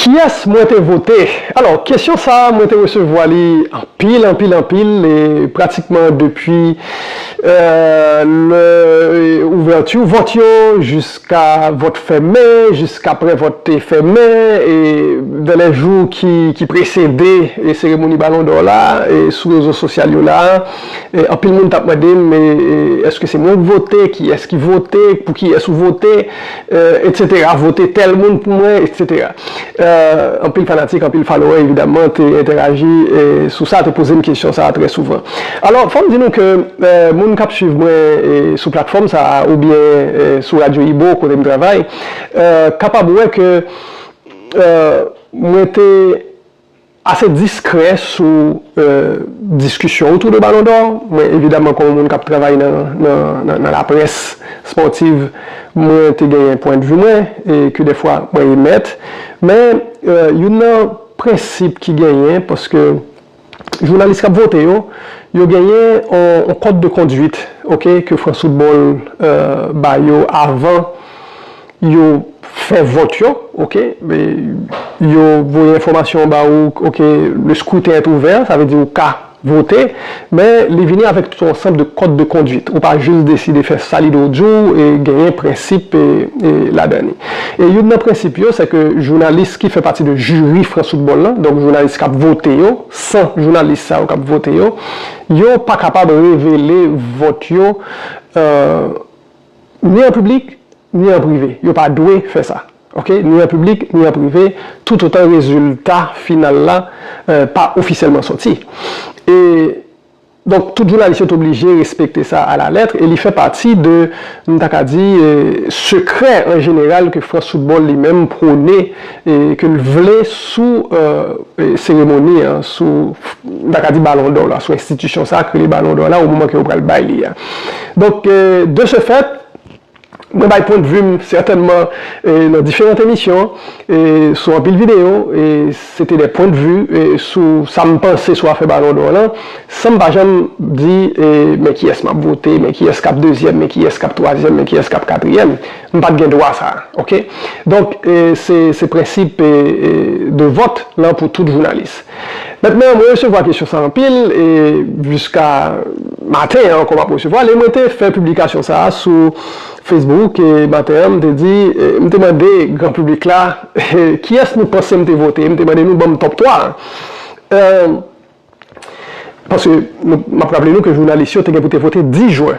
Kiyès mwen te vote? Alò, kesyon sa a, mwen te resevwa li anpil, anpil, anpil, e pratikman depi lè ouvèti vòt yo jiska vòt fèmen, jiskapre vòt te fèmen, e vè lè jou ki presede seremoni balon dò la, sou rezo sosyal yo la a, anpil moun t ap mande m, èske se mwen k vote, kiyès ki vote, pou kiyès ou vote? Etc vote tèl moun pou mwen etc anpil fanatik anpil falowè evidaman te entèraji sou sa te pozem kesyon sa trè souvan alò fòm di nou ke moun kap swiv mwen sou platfòm sa oubyen sou radyo ibo kotem travay kapab wè ke mwen te Ase diskrè sou diskisyon otou de Balon dò, mwen evidaman kòm moun k ap travay nan laprès spòtiv, mwen te genyen pwendvi mwen e ke dèfwa mwen emèt. Men, youn nan prensip ki genyen, paske jounalis k ap vote yo, yo genyen yon kòd de konduit, ok, ke Fransfoutbòl ba yo avan Yo fè vòt yo ok yo voye enfòmasyon ba ou ok le scrutin est ouvert sa vle di ou ka vote men li vini avèk tout yon ansanb de kòd de konduit ou pa jis deside fè sa li do di w genyen prensip ladan li e youn nan prensip yo se ke jounalis ki fè pati de jiri frans foutbòl lan donk jounalis k ap vote yo san jounalis sa yo k ap vote yo yo pa kapab revele vòt yo. ni an piblik ni an prive, yo pa dwe fè sa ok, ni an piblik ni an prive toutotan rezilta final la pa ofisyèlman sòti e donk tout jounalis yo te oblije respekte sa alalèt e li fè pati de m ta ka di sekrè an jeneral ke France Football li menm pwone e ke l vle sou seremoni an, sou, m ta ka di balon dò la, sou enstitisyon sa a k rele balon dò la o moman ke yo pral bay li a. Donk, de se fèt, mwen bay pwendvi m sètènman nan diferant emisyon, sou anpil videyo, e se te de pwendvi sou sa m panse sou afè balon dò lan, san m pa janm di men kiyès m ap vote, men kiyès k ap dezyèm, men kiyès k ap twazyèm, men kiyès k ap katriyèm. M pat gen dwa sa ok. Donk se prensip de vòt lan pou tout jounalis. Mentnan mwen resevwa kesyon sa anpil e jiska maten an ankò m ap resevwa l e mwen te fè piblikasyon sa sou Facebook maten an m te di m te mande gran piblik la kiyès nou panse m te vote m te mande nou ban m top 3 paske m ap raple nou ke jounalis yo te gen pou te vote 10 jwen.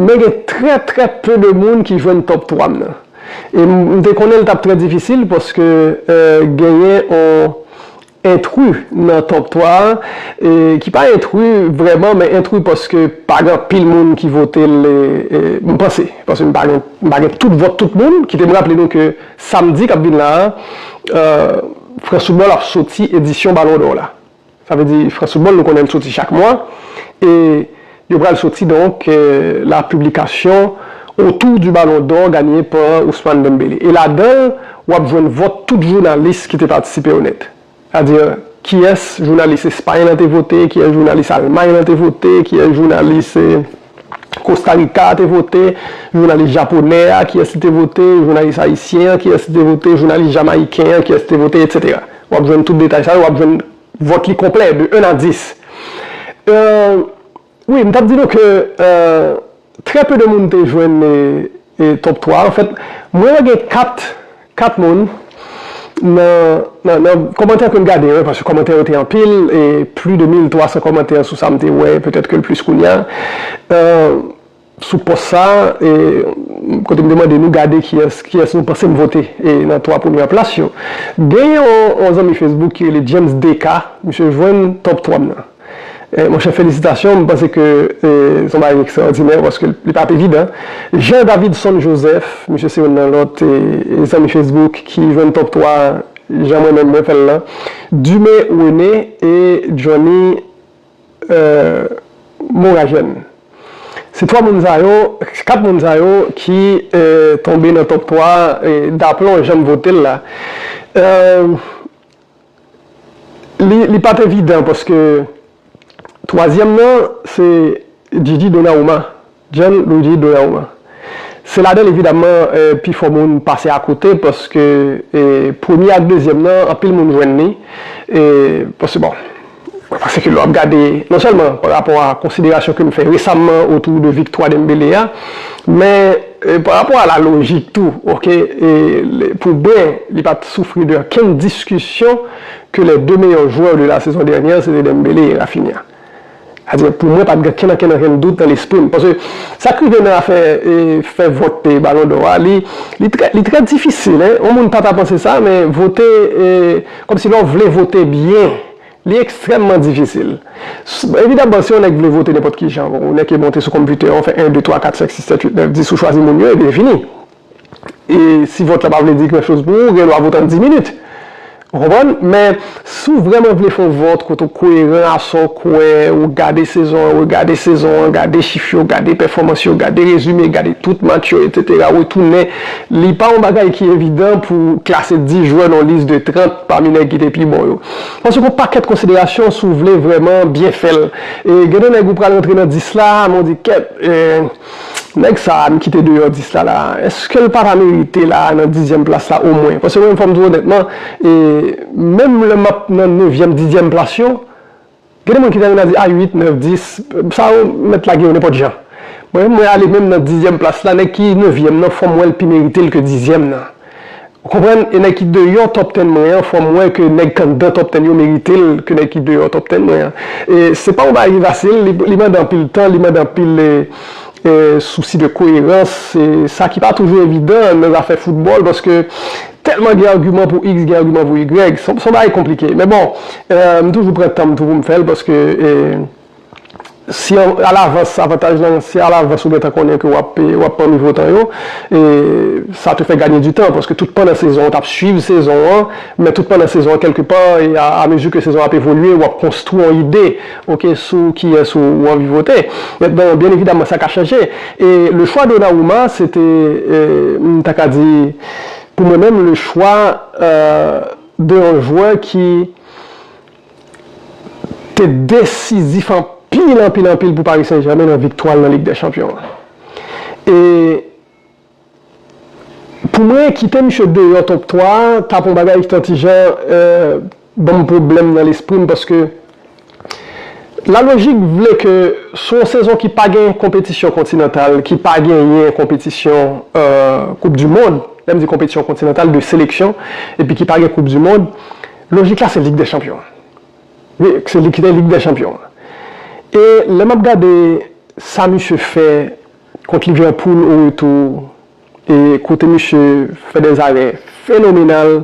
Men gen trè trè peu de moun ki jwenn top 3 m nan. E m te konnen l t ap trè difisil paske genyen on entru nan top 3 a ki pa entru vrèman men entru paske pa gen anpil moun ki vote l m panse paske m pa gen m pa gen tout vòt tout moun. Kite m raple nou ke samdi k ap vin la a Franck Soumol ap soti edisyon balon dò w la. Sa vle di frais football nou konnen l soti chak mwa e yo pral soti donk la publication autour du ballon d'or gagné par Ousmane Dembélé e ladan l wap jwenn vòt tout jounalis ki te patisipe yo nèt sa di kiyès jounalis Espagne lan te vote kiyès jounalis Allemagne lan te vote kiyès jounalis Kosta Rika te vote, jounalis japonè a kiyès li te vote, jounalis ayisyen an kiyès li te vote, jounalis jamayiken an kiyès li te vote, etc. Wap jwenn tout detay sa yo, wap jwenn vòt li konplè de 1 a 10. Wi, m tap di nou ke trè peu de moun te jwenn. Top 3 an fèt mwen wè gen 4 4 moun nan nan kòmantè kem gade yo paske kòmantè yo te anpil e pli de 1300 kòmantè sou sam te wè petèt kel plis kounya sou pòs sa e kote mte mande nou gade kiyès kiyès nou pansem vote e nan 3 premyè plas yo gen yon zanmi Facebook ki rele James DK misye jwenn top 3 m nan. Monchè felisitasyon, m panse ke se yon bagay ekstraòdinè paske li pa ap evidan. Jean Davidson Joseph, misye se youn nan lòt zanmi Facebook ki jwenn top 3 jan mwen menm mwen fè l lan. Dumé René e Johnny Moragène. Se 3 moun sa yo, 4 moun sa yo ki tonbe nan top 3 daplon jan m vote l la. Li pat evidan paske twazyèm nan se Djidji Donauma, John Luigi Donauma. Se ladan l evidamman pi fò moun pase akote paske premye ak dezyèm nan anpil moun jwenn li paske bon. Pase ke lè w ap gade non sèlman pa rapò a konsiderasyon ke nou fè resamman otou de viktwa Dembele a, men pa rapò a la lojik tou ok pou mwen li pa t soufri de okenn diskisyon ke les deux meilleurs joueurs de la saison dernière se te Dembele e Raphinha. Sa di pou mwen pa t gen okenn okenn okenn dout nan lespri m paske sa k rive nan afè fè vòt balon dò a li li trè difisil yon moun pa ta panse sa men vote Kòmsi lè w vle vote byen, li ekstrèmman difisil. Evidaman, si yon nèg vle vote nenpòt ki jan, ou nèke monte sou konpitè a, ou fè 1, 2, 3, 4, 5, 6, 7, 8, 9, 10, ou chwazi moun yo, epi li fini. E si vòt la pa vle di grandchoz pou ou, ou gen dwa vote an 10 minit. Ou konprann? Men, si w vrèman vle fè yon vòt kote w koyeran a sa w kwè, ou gade sezon an, regade sezon an, gade chif yo, gade pèfòmans yo, gade rezime, gade tout match yo, etsetera, retounen, Li pa yon bagay ki evidan pou klase 10 jwè nan yon lis de 30 pami nèg ki te pi bon yo. Paske gen yon pakèt konsiderasyon si w vle vrèman byen fè l. E gen de nèg ou pral rantre nan 10 la, men w di kèt, nèg sa a m kite deyò 10 la la a, èske l pa ta merite la a nan dizyèm plas la omwen? Paske mwen menm fò m di w onètman, menm lè m ap nan nevyèm, dizyèm plas yo, Gen de moun ki ta renmen di a 8, 9, 10, sa yo mèt lage yo nenpòt jan. Mwen menm mwen ale menm nan dizyèm plas la, nèg ki nevyèm nan fò m wè l pi merite l ke dizyèm nan. Ou konprann? E nèg ki deyò top ten mwen an fò m wè ke nèg k anndan top ten yo merite l ke nèg ki deyò top ten mwen an. E se pa yon bagay ki fasil, li mande anpil tan, li mande anpil. Sousi de koyerans, se sa ki pa toujou evidan nan zafè foutbòl, paske tèlman gen agiman pou iks, gen agiman pou igrèg, s on bagay konplike. Men bon, m toujou pran tan m tou pou m fè l, paske si alavans, avantaj lan, si alavans ou gen tan konnen ke w ap pami votan yo, sa te fè ganye di tan, paske tout pandan sezon an, w t ap suiv sezon an, men tout pandan sezon an, kèlke pa, amezi ke sezon an ap evolye, w ap konstwi yon ide. Ok sou kiyes ou anvi vote et bon bien evidemment sa ka chanje e le choix Donnarumma se te m ta ka di pou mwen menm le choix de yon joueur ki te desizif anpil anpil anpil pou Paris Saint Germain nan viktwa l nan Ligue des Champions an e Pou mwen kite misye deyò top 3 a tap yon bagay ki ta ti jan banm pwoblèm nan lespri m paske la lojik vle ke sou yon sezon ki pa gen konpetisyon kontinantal ki pa genyen konpetisyon koup di mond lè m di konpetisyon kontinantal de seleksyon epi ki pa gen koup di mond lojik la se lig dè chanpyon wi se li ki te lig dè chanpyon an e lè map gade sa misye fè Kont Liverpool au retour e kote misye fè dè zarè fenomenal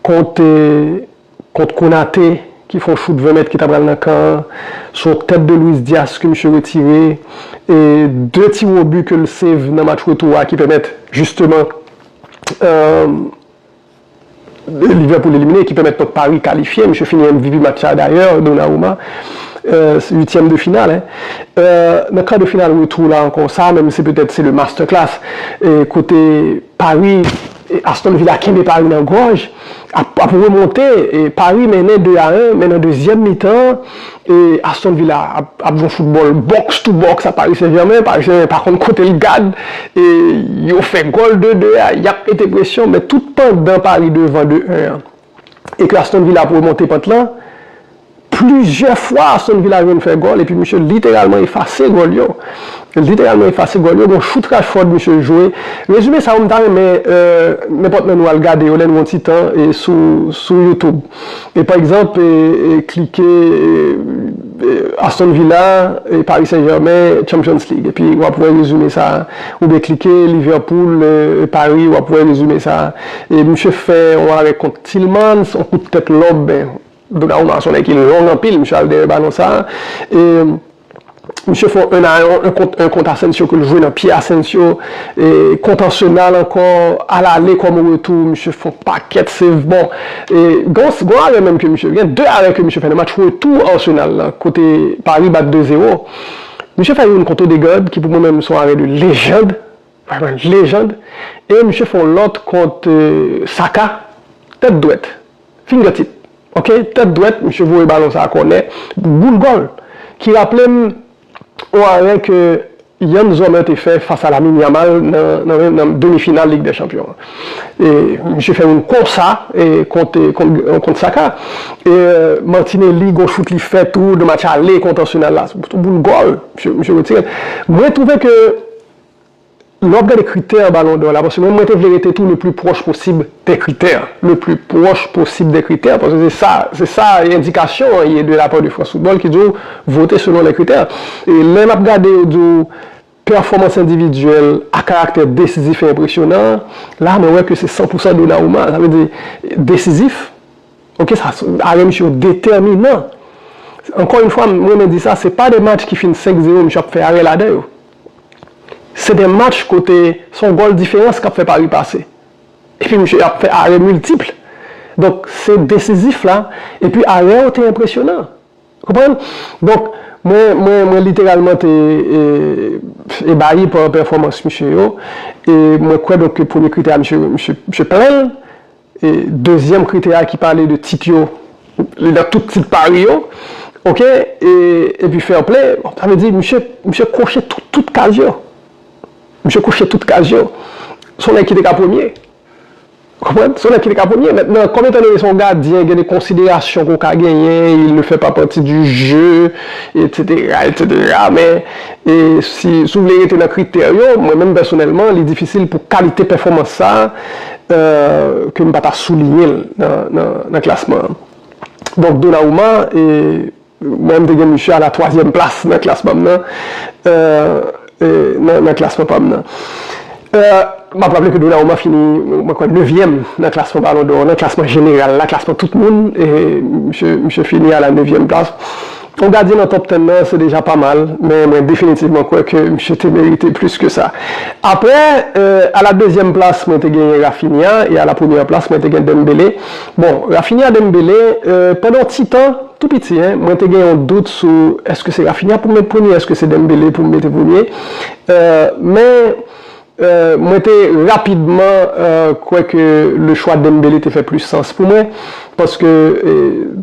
kont kont Konate ki fon chout 20 mèt ki ta pral nan kan an, son tèt de Luis Diaz ke misye retire e 2 tir au but ke l save nan match retour a ki pèmèt jisteman Liverpool elimine, ki pèmèt pot Paris kalifye, misye fini MVP match sa dayè, Donnarumma, uityèm de final, nan kar de final retou la ankò, sa menm se petèt se le masterclass, kote Paris, Aston Villa kenbe Paris nan gòj, ap remonte, Paris mennen 2 a 1, men nan dezyèm mitan. Aston Villa ap jwe yon foutbòl box to box ak Paris Saint-Germain, Paris Saint-Germain pa konn kote l gad, e yo fè gòl 2, 2 a, y ap mete presyon, men tout pandan Paris devan 2, 1 an, e ke Aston Villa ap remonte pant lan, plizyè fwa Aston Villa jwenn fè gòl, epi misye literalman efase gòl yo, literalman efase gòl yo, gen yon chout Rashford misye jwe, rezime sa yo m ta renmen nenpòt nan nou al gade yo lè n gen yon ti tan sou YouTube. E pa egzanp, klike Aston Villa, Paris Saint Germain, Champions League epi w ap wè rezime sa a. Oubyen klike Liverpool, Paris w ap wè rezime sa a. E misye fè yon arè kont Tillmans, yon kout tèt lòb, men Donnarumma son nèg ki long anpil, misye al dèyè balon sa a. E. Misye fè un a un kont un kont Asensio ke l jwe nan pye Asensio e kont Arsenal ankò a lale kòm o retou misye fè on pakèt save bon e gen on arè menm ke misye gen 2 arè ke misye fè nan match retou Arsenal la kote Paris bat 2 zero misye fè youn kont Odegaard ki pou mwen menm se on arè de lejand vrèman lejand e misye fè on lòt kont Saka tèt dwèt. Fingertip ok tèt dwèt misye voye balon sa kònè boul gòl ki raplem on arè ke Yann Zomer te fè fas a Lamine Yamal nan demi final lig dè chanpyon an e misye fè youn konsa kont kont Saka e Martinelli gon chout li fè tou nan match ale kont Arsenal la son boul gòl misye retirel mwen twouve ke Lè w ap gade kritè Ballon d'Or la, paske menm mwen te vle rete tou le pli pwòch posib dè kritè, le pli pwòch posib dè kritè, paske se sa, se sa endikasyon an ye de la part de France Football ki di w vote selon les critères. E lè n ap gade yo di w pèfòmans endividyèl ak karaktè desizif e enpresyonan an, la mwen wè ke se san pou san Donnarumma. Sa vle di desizif, ok, sa arè misye yo detèminan. Ankò yn fwa, m renmen di sa, se pa de match ki fin 5 zewo misye ap fè arè ladan yo. Se de match kote se yon gòl diferans k ap fè Paris pase. Epi misye ap fè arè miltipl. Donk se desizif la. Epi arè yo te enpresyonan. Ou konprann? Donk mwen, mwen, mwen literalman te ebayi pa pèfòmans misye yo. E mwen kwè donk ke premye kritè a misye, misye, misye plen l. Dezyèm kritè a ki pale de tit yo, li nan tout tit Paris yo, ok, epi fair play, sa vle di misye, misye koche tout kaz yo. Misye koche tout kaz yo. Se yon nèg ki te ka premye. Ou konprann? Se yon nèg ki te ka premye. Mentnan, kòm etan done se yon gadyen, gen de konsiderasyon ke w ka genyen, il ne fait pas partie du jeu, etsetera, etsetera, men, si w vle rete nan kritè yo, mwen menm pèsonèlman, li difisil pou kalite pèfòmans sa, ke m pa ta souliyen l nan klasman an. Donk Donnarumma, mwen m te gen misye a la twazyèm plas nan klasman m nan, nan klasman pa m nan. M ap raple ke Donnarumma fini, mwen kwè, nevyèm nan klasman Ballon d'Or, nan klasman jeneral la, klasman tout moun, misye fini a la nevyèm plas. Yon gadyen nan top 10 nan se deja pa mal, men mwen definitivman kwè ke misye te merite plis ke sa. Aprè, a la dezyèm plas mwen te genyen Raphinha e a la premyè plas mwen te gen Dembele. Bon, Raphinha Dembele, pandan yon ti tan, tou piti hein, mwen te gen yon dout sou èske se Raphinha pou m met premye, èske se Dembele pou m mete premye. Men, Mwen te rapidman kwè ke le chwa Dembele te fè plis sans pou mwen, paske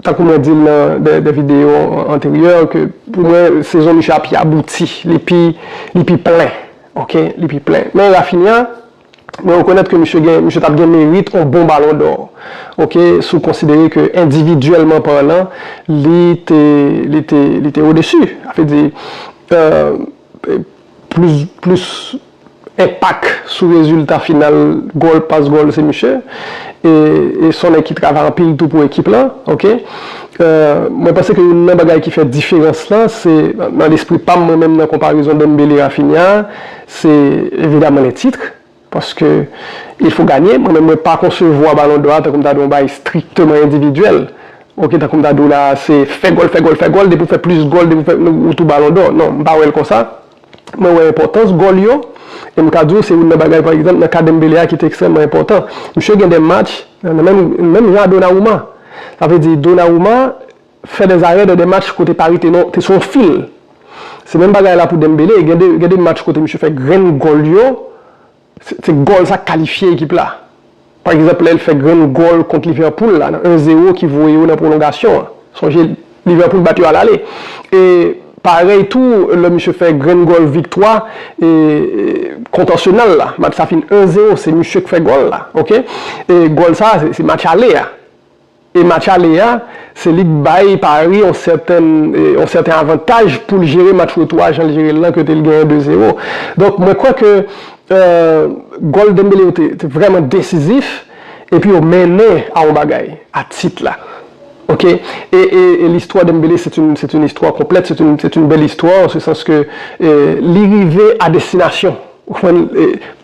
tankou mwen di l nan dè videyo anteryè, ke pou mwen sezon misye a pi abouti, li pi plen, ok, li pi plen. Men Raphinha, mwen rekonèt ke misye gen, misye t ap gen merit on bon balon dò, ok, si w konsidere ke endividyèlman parlan, li te, li te, li te odesu, a vle di, euh. Plis plis enpak sou rezilta final gòl pas gòl se misye e son nèg ki travay anpil tou pou ekip lan ok mwen panse ke youn nan bagay ki fè diferans lan se nan lespri pam mwen menm nan konparezon Dembele Raphinha se evidaman lè titre. Paske il fo ganye, mwen menm mwen pa konsevwa balon dò a tankou m ta di yon bagay strikteman endividyèl, ok tankou m ta di w la se fè gòl, fè gòl, fè gòl, depi w fè plis gòl, depi w fè ou tou balon dò. Non, m pa wè l konsa. Mwen wè enpòtans gòl yo e m ka di w se youn nan bagay pa egzanp nan ka Dembele a ki te ekstrèmman enpòtan. Misye gen de match nan menm menm jan a Donnarumma. Sa vle di Donnarumma. fè dè zarè dè dè match kote Paris te nan te sou yon fil. Se menm bagay la pou Dembele, gen de gen de match kote misye fè grenn gòl yo, se se gòl sa k kalifye ekip la. Pa egzanp lè l fè grenn gòl kont Liverpool la nan 1 zero ki voye yo nan pwolongasyon an. Sonje Liverpool bat yo alale. E parèy tou lè misye fè grenn gòl viktwa e kont Arsenal la, match sa fin 1 zero se misye k fè gòl la, ok. E gòl sa se match ale a. E match ale a, se li k bay Paris yon sèten yon sèten avantaj pou l jere match retou a jan l jere l lan kote l genyen 2 zero. Donk mwen kwè ke gòl Dembele yo te te vrèman desizif epi yo mennen a yon bagay, a tit la. Ok. E e e listwa Dembele se t yn se t yn istwa konplèt, se t yn se t yn bèl istwa an se sans ke li rive a destinasyon. Ou konprann,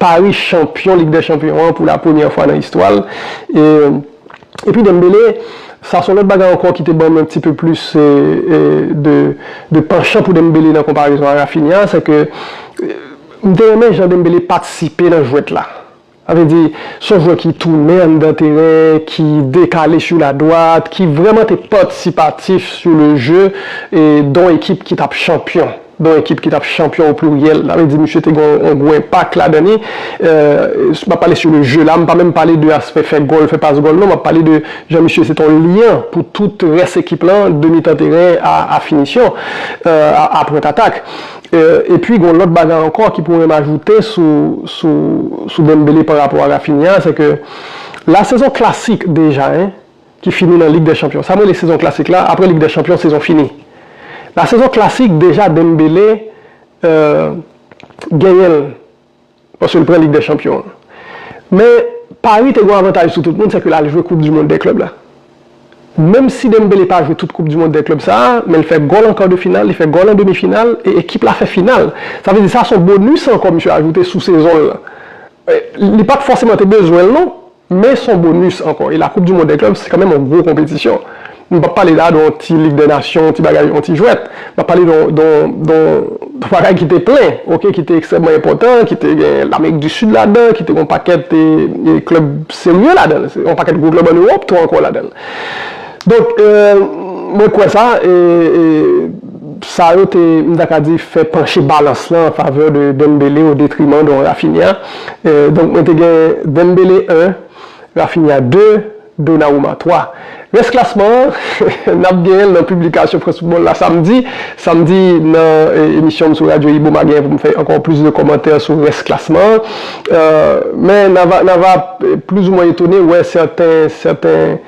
Pari chanpyon Lig dè Chanpyon an pou la premyè fwa nan istwa l. Epi Dembele, sa son lòt bagay ankò ki te banm un petit peu plus de penchant pou Dembele nan konparezon a Raphinha, sè ke m te renmen jan Dembele patisipe nan jwèt la. Sa vle di, s on jwè ki tounen anndan teren, ki dekale su la dwat, ki vrèman te patisipatif su le je d on ekip ki t ap chanpyon, d on ekip ki t ap chanpyon o pliryèl. Sa vle di misye te gen on gwo enpak ladan li. M ap pale su le je la, m pa menm pale de aspè fè gòl, fè pas gòl non, m ap pale de jan misye se t on lyan pou tout rès ekip lan, de mitan teren a finisyon, a pwent atak. Epi gon lòt bagay ankò ki pou menm ajoute sou sou sou Dembele pa rapò a Raphinha se ke la sezon klasik deja hein ki fini nan lig dè chanpyon sa m rele sezon klasik la aprè lig dè chanpyon sezon fini la sezon klasik deja Dembele euh genyen l Paske l pran Lig dè Chanpyon an. Men, Paris te gen yon avantaj sou tout moun, sèke l al jwe Koup di Mond dè Klèb la. Menm si Dembélé pa jwe tout Koup di Mond dè Klèb sa a, men l fè gòl an kar de final, li fè gòl an demi final, e ekip la fè final. Sa vle di sa son bonis ankò misye ajoute sou sezon l lan. Li pa t fòseman te bezwen l non, Men son bonus ankò e la koup du mond dè klub se kanmenm yon gwo konpetisyon. Nou pap pale la de yon ti lig dè nasyon, yon ti bagay, yon ti jwèt. Nap pale de yon bagay ki te plen, ok, ki te ekstrèmman enpòtan, ki te gen Lamerik du Sud ladan, ki te gen yon pakèt klub serye ladan, yon pakèt gwo klub an Ewòp tou ankò ladan. Donk, mwen kwè sa e sa yo te, m ta ka di, fè panche balans lan an favè de Dembele o detriman de yon Raphinha. Donk mwen te gen Dembele 1, Raphinha 2, Donnarumma 3. Rès klasman an, n ap genyen l nan piblikasyon France Football la samdi. Samdi nan emisyon m sou radyo Ibo m a genyen pou m fè ankò plis de kòmantè sou rès klasman an. Men n a va plis ou mwen etone wè sèten, sèten.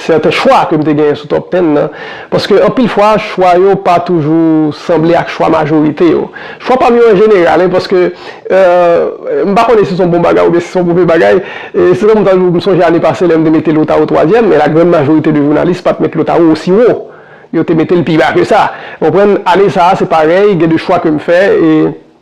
Sèten chwa ke m te genyen sou Top Ten nan, paske anpil fwa chwa yo pa toujou sanble ak chwa majorite yo. Chwa pa m yo an jeneral, e paske, m pa konnen si se yon bon bagay oubyen si se yon move bagay, se tankou ta di w, m sonje ane pase lè m te mete Lotaro twazyèm, men la grand majorite de jounalis pa t met Lotaro osi wo. Yo te mete l pi ba ke sa. Ou konprann? Ane sa a se parèy, gen de chwa ke m fè e.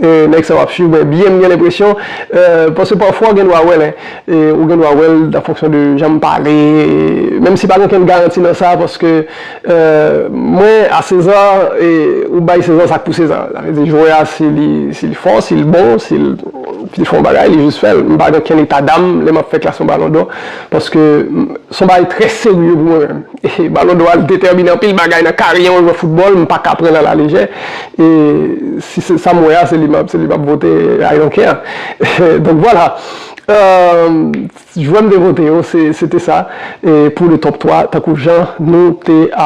Nèg sa yo ap swiv mwen byen m gen lenpresyon paske pafwa gen dwa wè lè ou gen dwa wè l an fonksyon de jan m pale menm si pa gen okenn garanti nan sa paske mwen a seza ou bay seza sa k pou seza sa vle di jwè a si li fò si l bon si l fè yon bagay li jis fè l m pa gen okenn etadam lè m ap fè klasman balon dò paske s on bagay trè serye pou mwen menm. Balon dò a detèmine anpil bagay nan karyè yon jwè foutbòl, m paka pran l a la lejè. E si se sa m wè a, se li m ap vote I don't care. Donk vwala, jwè m te vote yo se te sa pou le top 3 tankou jan nou te.